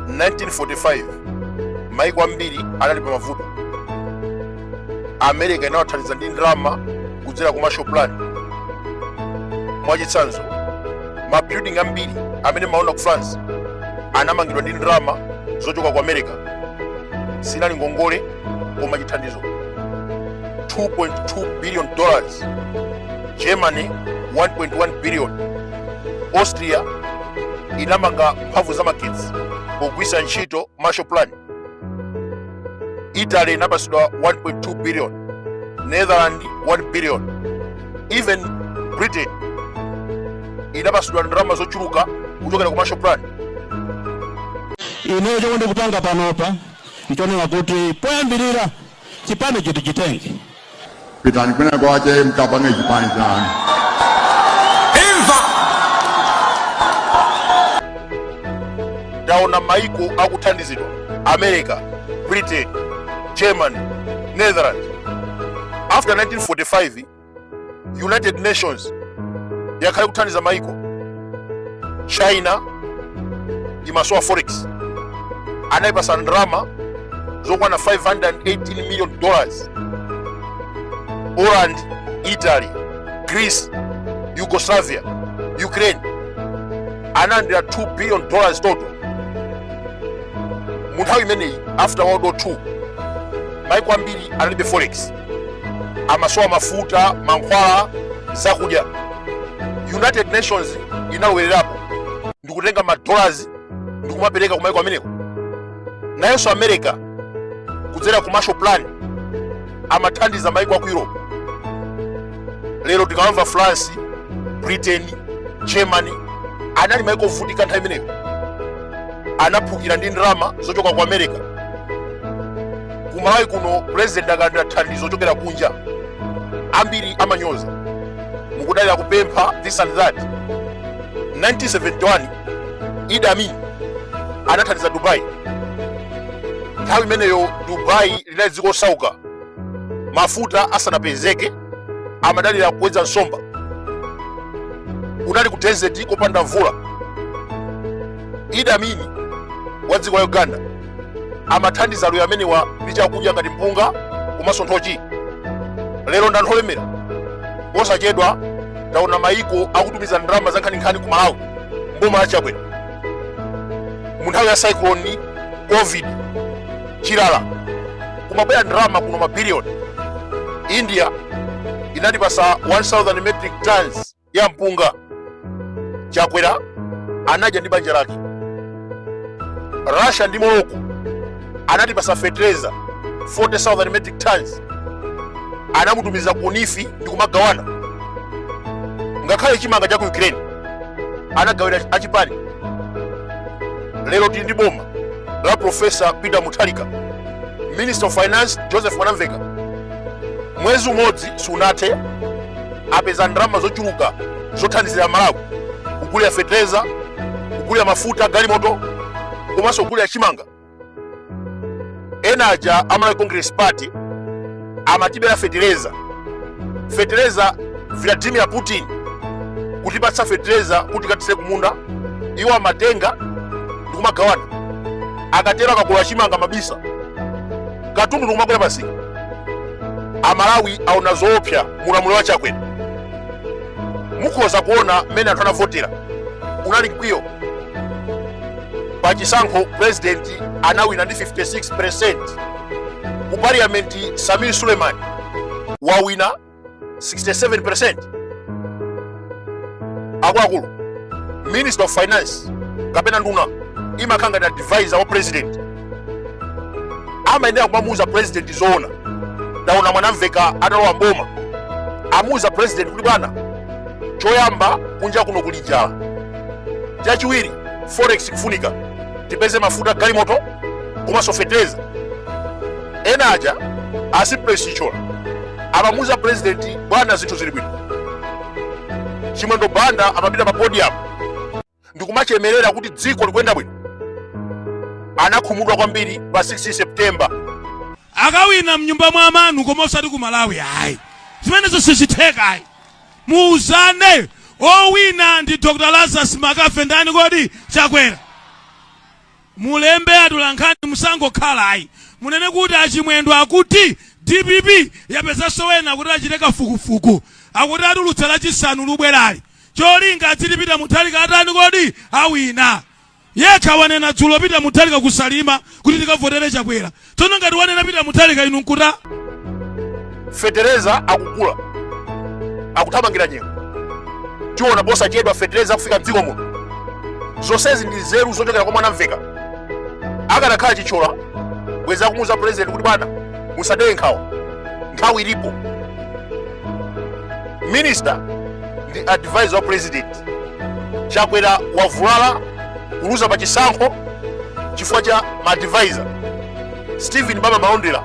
1945 maiko ambiri anali pa mavuto america inawathandiza ndi ndalama kudzera ku marshall plan mwachitsanzo mabuilding ambiri amene mumaona ku france anamangidwa ndi ndalama zochoka ku america sinali ngongole koma chithandizo 2.2 billion dollars germany 1.1 billion austria inamanga mphamvu za magetsi pogwiritsa ntchito marshall plan italy inapatsidwa 1.2 billion netherland 1 billion even britain inapatsidwa ndalama zochuluka kuchokera ku marshall plan ineyo chomwe ndikupanga panopa ndichonena kuti poyambirira chipani chiti chitenge pitani kwina kwake mkapange chipani chanu taona maiko akuthandizidwa america britain germany netherlands after 1945 united nations yakhala ikuthandiza maiko china imasowa forex anayipasa ndalama zokwana 518 million dollars poland italy greece yugoslavia ukraine analandira 2 billion dollars total mu nthawi imeneyi after world war 2 maiko ambiri analibe forex amasowa mafuta mankhwala zakudya united nations inalowererapo ndikutenga madollars ndikumapereka kumaiko ameneko nayenso america kudzera ku marshall plan amathandiza maiko aku europe lero tikawamva france britain germany anali maiko ovutika nthawi imeneyo anaphukira ndi ndalama zochoka ku america ku malawi kuno pulezidenti akalandira thandizo kuchokera kunja ambiri amanyoza mukudalira kupempha this and that 1971 idi amin anathandiza dubai nthawi imeneyo dubai linali dziko osauka mafuta asanapezeke amadalira kuwedza nsomba kunali ku desert kopanda mvula idi amin wa dziko la uganda amathandiza aluya amenewa ndi chakudya ngati mpunga komanso nthochi lero ndi anthu olemera posachedwa taona maiko akutumiza ndalama zankhaninkhani ku malawi mboma la chakwera mu nthawi ya cyclone covid chilala kumabwera ndalama kuno mabiliyoni india inatipasa 1000 metric tons ya mpunga chakwera anadya ndi banja lake russia ndi morocco anatipasa fetereza 40000 metric tons anamutumiza ku nif ndi kumagawana ngakhale chimanga cha ku ukraine anagawira achipani lero tili ndi boma la profesa peter mutharika minister of finance joseph mwanamveka mwezi umodzi sunathe apeza ndalama zochuluka zothandizira malawi kugulira fetereza kugulira mafuta galimoto komanso kugulira chimanga ena aja a malawi congress party amatibera fetereza fetereza vladimir putin kutipatsa fetereza kuti tikathire kumunda iwo amatenga ndikumagawana akatero akagula chimanga mabisa katundu ndikumakwera pa msika amalawi aona zoopsa mulamuliro wa chakwera mukhoza kuona mmene anthu anavotera unali mkwiyo pa chisankho president anawina ndi 56 ku parliament samir suleiman wawina 67% akuluakulu minister of finance kapena nduna imakhala ngati advisor wa president amayenera kumamuuza president zoona ndaona mwanamveka atalowa mboma amuuza president kuti bwana choyamba kunja kuno kuli njala chachiwiri forex kufunika tipeze mafuta galimoto komanso fetereza ena aja a simplex chithyola amamuuza purezidenti bwana zinthu zili bwino chimwendo banda amapita pa podium ndikumachemerera kuti dziko likuyenda bwino anakhumudwa kwambiri pa 16 september akawina mnyumba mwa amanu koma osati ku malawi ayi zimenezo sizitheka ayi muuzane owina ndi dr lazarus mccarthy ndani kodi chakwera Mulembe atolankhani musangokhala ayi. Munene kuti a Chimwendo akuti dpp yapezanso ena kuti achite kafukufuku. Akuti atulutsa lachisanu lubwerali. Cholinga adziti Peter Mutharika atani kodi? Awina. Yekha wanena dzulo Peter Mutharika ku Salima kuti tikavotere Chakwera. tsono ngati wanena pita muthalika inu nkuta fetereza akugula akuthamangira nyengo tiona posachedwa fetereza akufika mdziko muno zonsezi ndi nzeru zochokera kwa mwanamveka akanakhala chithyola bwezi akumuuza purezidenti kuti bwana musadere nkhawa nthawi ilipo minister ndi advisor wa president chakwera wavulala kuluza pa chisankho chifukwa cha maadvisor stephen baba malondera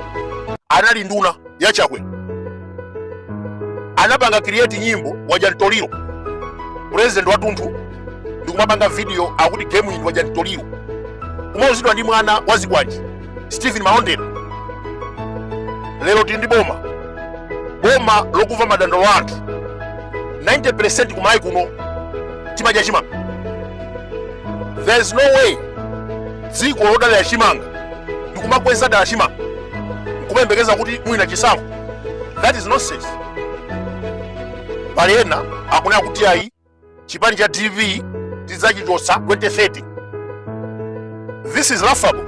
anali nduna ya chakwera anapanga create nyimbo wadya mtoliro president watunthu ndikumapanga video akuti game iyi wadya mtoliro kumauzidwa ndi mwana wa zikwanje stephen malondera lero tili ndi boma boma lokumva madandaulo a anthu 90 percent kumalawi kuno timadya chimanga there is no way dziko lodalira chimanga ndikumakweza dala chimanga nkumayembekeza kuti muwina chisankho that is nonsense pali ena akunena kuti ayi chipani cha dpp tidzachichotsa 2030 this is laughable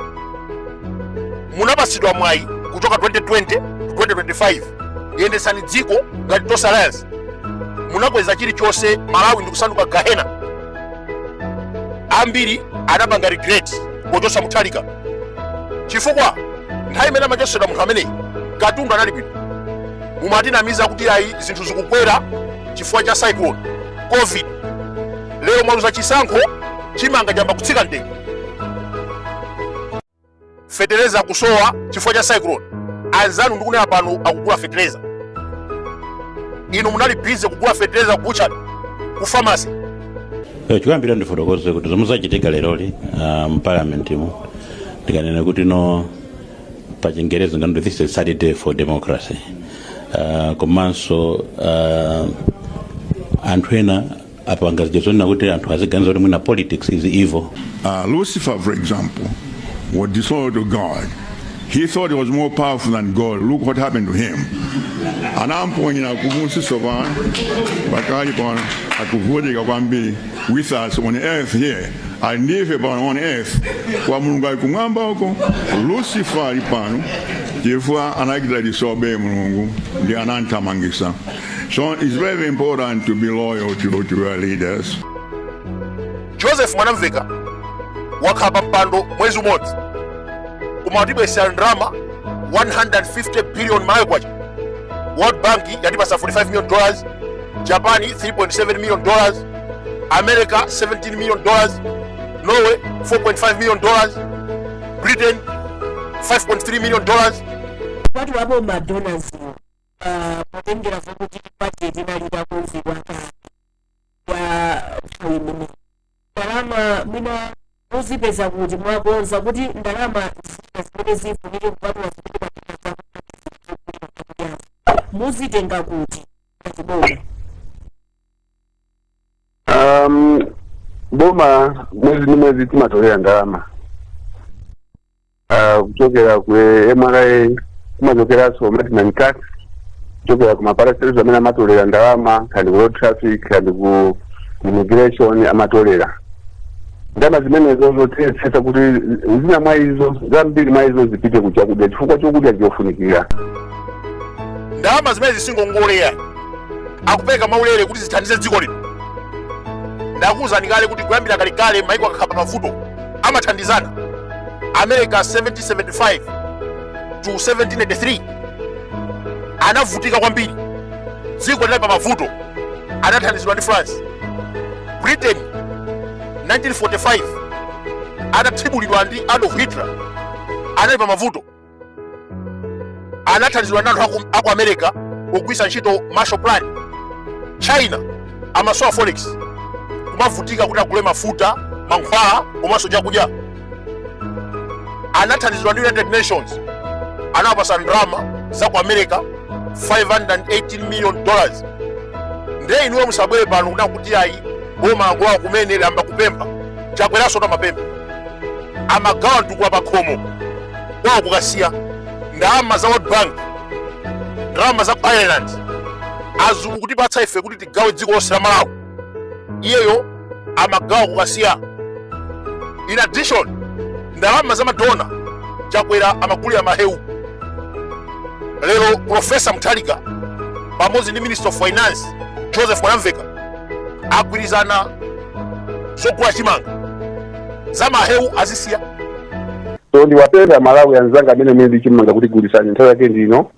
munapasidwa mwayi kuchoka 2020 to 2025 yendesani dziko ngati tonse alliance munakweza chilichonse malawi ndikusanduka gahena ambiri anapanga regret pochosa mutharika chifukwa nthawi imene amachosedwa munthu ameneyi katundu anali bwino mumatinamiza kuti ayi zinthu zikukwera chifukwa cha cyclone covid lero mwaluza chisankho chimanga chayamba kutsika mtengo fetereza akutchipa chifukwa cha cyclone anzanu ndikunena pano akugula fetereza inu munali busy kugula fetereza ku butchery ku pharmacy eh, ndikuyambira ndifotokoze kuti zomwe zachitika leroli ah, mu parliament mu ndikanene kuti no pa chingerezi amati this is sad day for democracy uh, komanso uh, anthu ena apanga zinthu zonena kuti anthu aziganiza kuti mwina politics is evil Uh, Lucifer, for example, was disobedient to God. He thought he was more powerful than God. Look what happened to him. Anamponyera kumunsi so pano pakali pano akuvutika kwambiri with us on earth here. ali ndi ife pano on earth kwa mulungu ali kumwamba uko lucifer ali pano chifukwa anachita disobey mulungu nde anamthamangisa so it's very important to be loyal to, to your leaders joseph mwanamveka wakhala pa mpando mwezi umodzi koma watibwesera ndalama 150 billion malawi kwacha world bank yatipasa 45 million dollars japan 3.7 million dollars america 17 million dollars norway 4.5 million dollars britain 5.3 million dollars kwati wapo madonors uh, potengera vokuti budget inali takonzedwa kale pa nthawi imene ndalama mwina muzipeza kuti mwakonza kuti ndalama zina zimene zifunike kupatula zimene mwapeza zakudyazo muzitenga kuti ngati boma um, boma mwezi ndi mwezi timatolera ndalama uh, kuchokera ku mra kumachokeranso maintenance tax kuchokera ku maparastatals amene amatolera ndalama kaya ndi ku road traffic kaya ndi ku immigration amatolera ndalama zimenezo zonse tiyesesa kuti zina mwa izo zambiri mwa izo zipite ku chakudya chifukwa chakudya chofunikira ndalama zimene zili si ngongole akupereka mwaulere kuti zithandize dziko lino ndakuwuzani kale kuti kuyambira kalekale maiko akakhala pa mavuto amathandizana america 1775 to 1783 anavutika kwambiri dziko linali pa mavuto anathandizidwa ndi france britain 1945 anathibulidwa ndi adolf hitler anali pa mavuto anathandizidwa ndi anthu aku- aku america pogwisa ntchito marshall plan china amasowa forex kumavutika kuti agule mafuta mankhwala komanso chakudya anathandizidwa ndi united nations anawapasa ndalama za ku america 518 million dollars ndiye inuyo musabwere pano kunena kuti ayi boma langolowa kumene layamba kupempha chakweraso atamapempha amagawa mtukula pakhomo kwawo ku kasiya ndalama za world bank ndalama za ku ireland azungu kutipatsa ife kuti tigawe dziko lonse la malawi iyeyo amagawa ku kasiya in addition ndalama za madona chakwera amagulira mahewu lero profesa mutharika pamodzi ndi minister of finance joseph mwanamveka agwirizana zogula chimanga za mahewu azisiya so ndiwapemphe amalawi anzanga amene muli ndi chimanga kuti gulisani nthawi yake ndi ino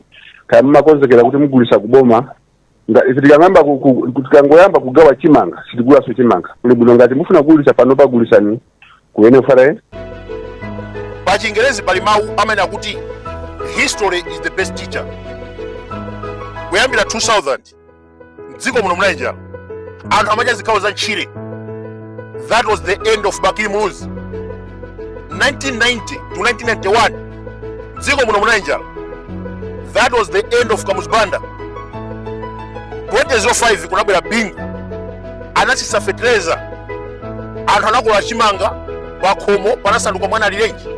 kaya mmakonzekera kuti mugulisa kuboma Nga- ife tikang'amba ku- ku- ku- tikangoyamba kugawa chimanga sitigulaso chimanga kuli bwino ngati mufuna kugulisa panopa gulisani ku nfra pa chingerezi pali mawu amene amati history is the best teacher kuyambira 2000 mdziko muno munali njala anthu amadya zikhawo za ntchire that was the end of bakili muluzi 1990 to 1991 mdziko muno munali njala that was the end of kamuzu banda 2005 kunabwera bingu anatsitsa fetereza anthu anakolola chimanga pakhomo panasanduka mwana alirenji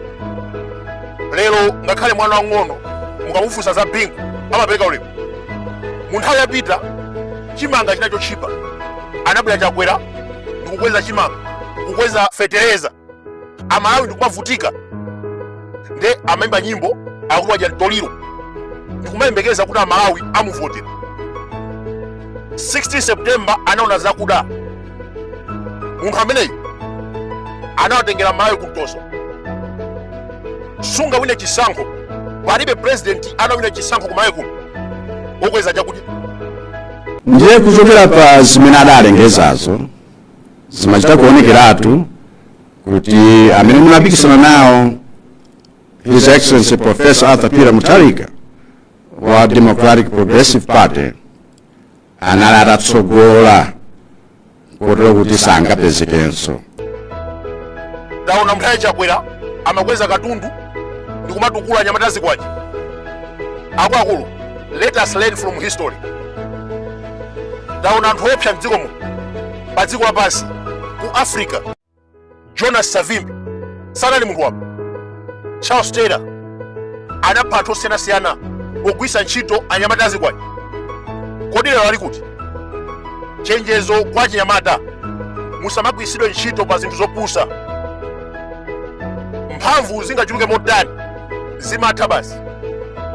lero ngakhale mwana wang'ono mukamufunsa za bingu amapereka ulemu mu nthawi yapita chimanga chinali chotchipa anabwera chakwera ndikukweza chimanga kukweza fetereza amalawi ndikumavutika nde amaimba nyimbo akuti wadya mtoliro ndikumayembekeza kuti amalawi amuvotera 16 september anaona zakuda munthu ameneyu anawatengera amalawi kumtoso sungawine chisankho palibe president angawine chisankho kumalawi kuno wokweza chakudya ndiye kuchokera pa zimene adalengezazo zimachita kuonekeratu kuti amene ndimapikisana nawo his excellency professor arthur peter mutharika wa democratic progressive party anali atatsogola kotero kuti sangapezekenso taonani munthawi ya chakwera amakweza katundu ndi kumatukula anyamata azikwanje akuluakulu let us learn from history taonani anthu oopsa mdziko muno pa dziko lapansi ku africa jonas savimbi sanali munthu wamba charles taylor anapha anthu osiyanasiyana pogwiritsa ntchito anyamata azikwanje kodi lero ali kuti chenjezo kwa achinyamata musamagwiritsidwe ntchito pa zinthu zopusa mphamvu zingachuluke motani zimatha basi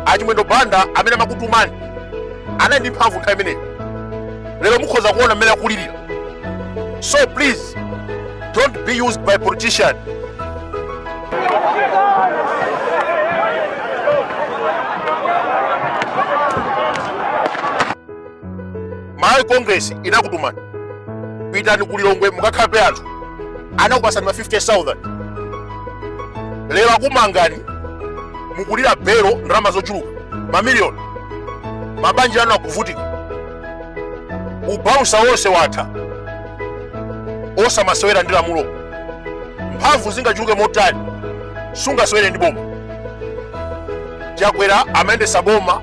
achimwendo banda amene amakutumani anali ndi mphamvu nthawi imeneyo lero mukhoza kuona mmene akulirira So please, don't be used by politicians. malawi congress inakutumani pitani ku lilongwe mukakhape anthu anakupasani ma 50000 lero akumangani mukulira belo ndalama zochuluka mamiliyoni mabanja anu akuvutika ubausa wonse watha osamasewera ndi lamulo mphamvu zingachuluke motani sungasewere ndi boma chakwera amayendetsa boma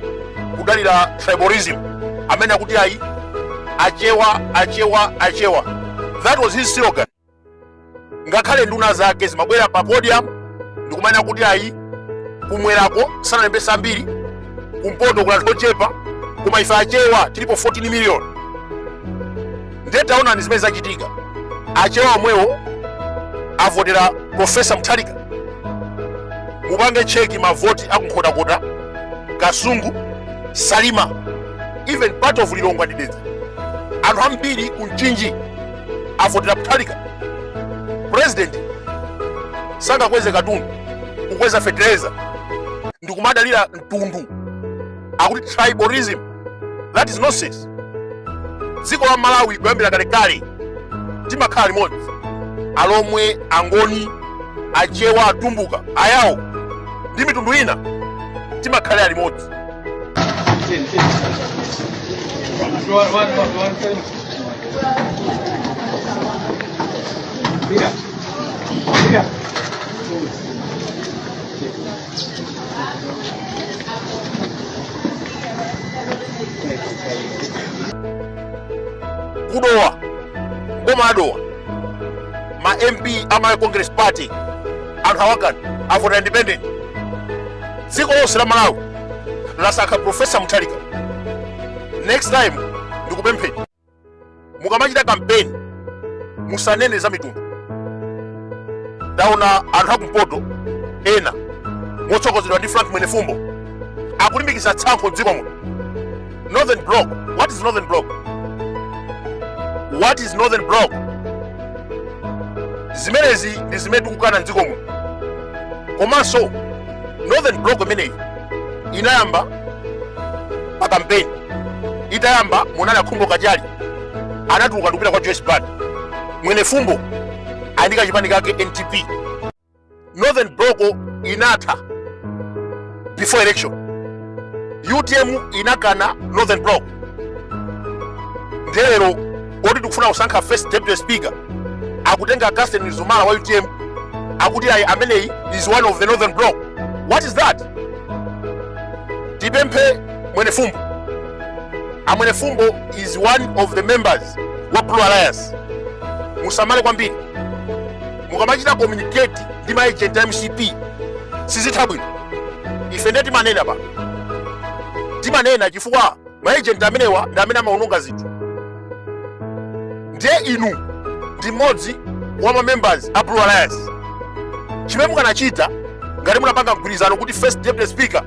kudalira tribalism amene akuti ayi achewa achewa achewa that was his slogan ngakhale nduna zake zimabwera pa podium ndikumanena kuti ayi kumwerako sanalembesa ambiri kumpoto kuli anthu ochepa koma ife achewa tilipo 14 million ndiye taonani zimene zachitika achewa omwewo avotera profesa mutharika mupange cheki mavoti akunkhotakota kasungu salima even part of lilongwe ndi dedza anthu ambiri ku mchinji avotera mutharika president sangakweze katundu kukweza fetereza ndikumadalira mtundu akuti tribalism that is nonsense dziko la malawi kuyambira kalekale timakhala limodzi alomwe angoni achewa atumbuka ayawo ndi mitundu ina timakhalira limodzi kudowa kuboma la dowa ma mp a malawi congress party anthu awagana afuna independent dziko lonse la malawi lasankha profesa mutharika next time ndikupempheni mukamachita kampeni musanene za mitundu ndaona anthu akumpoto ena motsogozedwa ndi frank mwenefumbo akulimbikitsa tsankho mdziko muno Northern Block. What is Northern Block? What is Northern Block? Zimenezi ndi zimene tikukana mdziko muno. Komanso Northern Block imeneyi inayamba pa kampeni. Itayamba munali a Khumbo Kachali anatuluka ndikupita kwa Joyce Banda. Mwenefumbo ali ndi kachipani kake NTP. northern block inatha before election utm inakana northern block nde lero loti tikufuna kusankha first deputy speaker akutenga Catherine Mzumara wa utm akuti ayi ameneyi is one of the northern block what is that tipemphe mwenefumbo amwenefumbo is one of the members wa blue alliance musamale kwambiri mukamachita communicate ndi ma agent a mcp sizitha bwino ife ndiye timanena pano timanena chifukwa ma agent amenewa ndi amene amaononga zinthu ndiye inu ndi mmodzi wa ma members a blue alliance chimene mukanachita ngati munapanga mgwirizano kuti first deputy speaker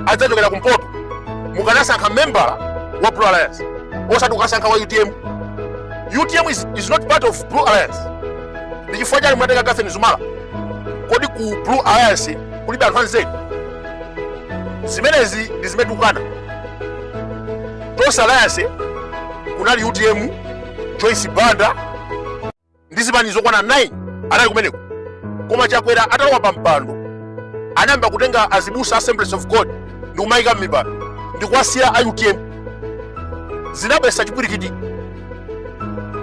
adzachokera kumpoto mukanasankha membala wa blue alliance osati kukasankha wa utm utm is not part of blue alliance ndi chifukwa chake mwatenga Catherine Mzumara kodi ku blue alliance kulibe anthu anzeru zimenezi ndi zimene tikukana tonse alliance kunali utm joyce banda ndi zipani zokwana 9 anali kumeneko koma chakwera atalowa pa mpando anayamba kutenga azibusa a assemblies of god ndi kumayika m'mipando ndi kuwasiya a utm zinabwesa chipwirikiti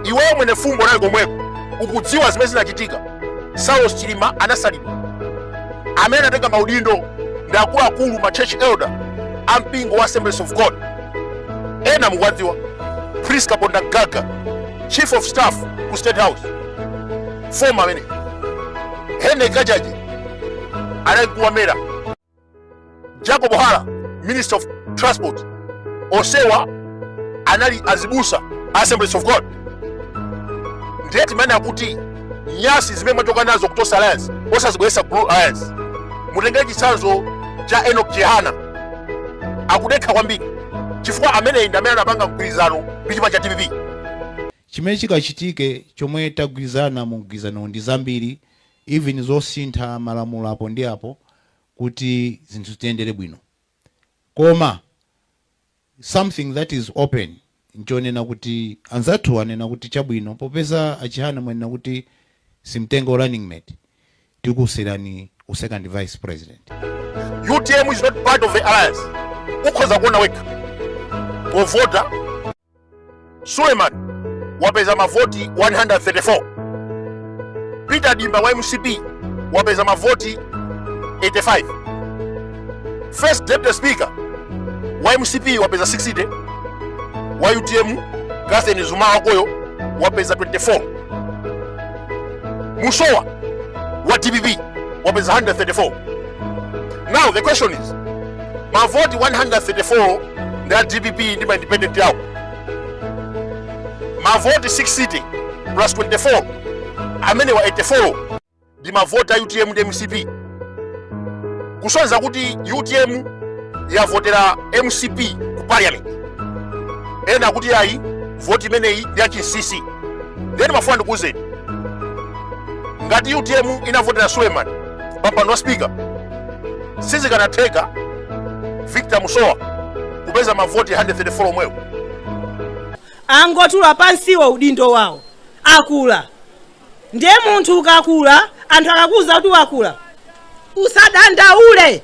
iweyo Mwenefumbo nawe komweko ukudziwa zimene zinachitika saulos chilima anasalidwa amene anatenga maudindo ndi akuluakulu ma church elder a mpingo wa assemblies of god ena mukuwadziwa Prince Kapondamgaga chief of staff ku state house former ameneyi henry kachaje anali kuwamera Jacob Hara, Minister of Transport, onsewa anali azibusa Assemblies of God. Ndiye timanena kuti nyasi zimene mwachoka nazo ku Tonse alliance osazibweresa ku Blue Alliance. Mutengere chitsanzo cha Enoch Chihana akudekha kwambiri chifukwa ameneyi ndi amene anapanga mgwirizano ndi chipani cha DPP. chimene chikachitike chomwe tagwirizana mu mgwirizano ndi zambiri even zosintha malamulo apo ndi apo kuti zinthu zitiyendere bwino koma something that is open nchonena kuti anzathuwa anena kuti chabwino popeza a Chihana mwanena kuti simtenga u running mate tikuserani u second vice president. Utm is not part of the alliance ukhoza kuona wekha povota Suleiman wapeza mavoti 134. Peter Dimba wa mcp wapeza mavoti 85. First Deputy Speaker wa mcp wapeza 60. Wa UTM Catherine Mzumara uyo wapeza 24. Musowa wa DPP wapeza 134. Now the question is mavoti 134 ndi a dpp ndi ma independent yawo mavoti 60 plus 24 amenewa 84 ndi mavoti a utm ndi mcp kusonyeza kuti utm yavotera mcp ku parliament ena akuti ayi voti imeneyi ndi yachinsisi ndiye ndimafuna ndikuwuzeni ngati utm inavotera suleman pampando wa spika sizikanatheka victor musowa kupeza mavoti 134 omwewo angotula pansiwo udindo wawo akula ndiye munthu ukakula anthu akakuuza kuti wakula usadandaule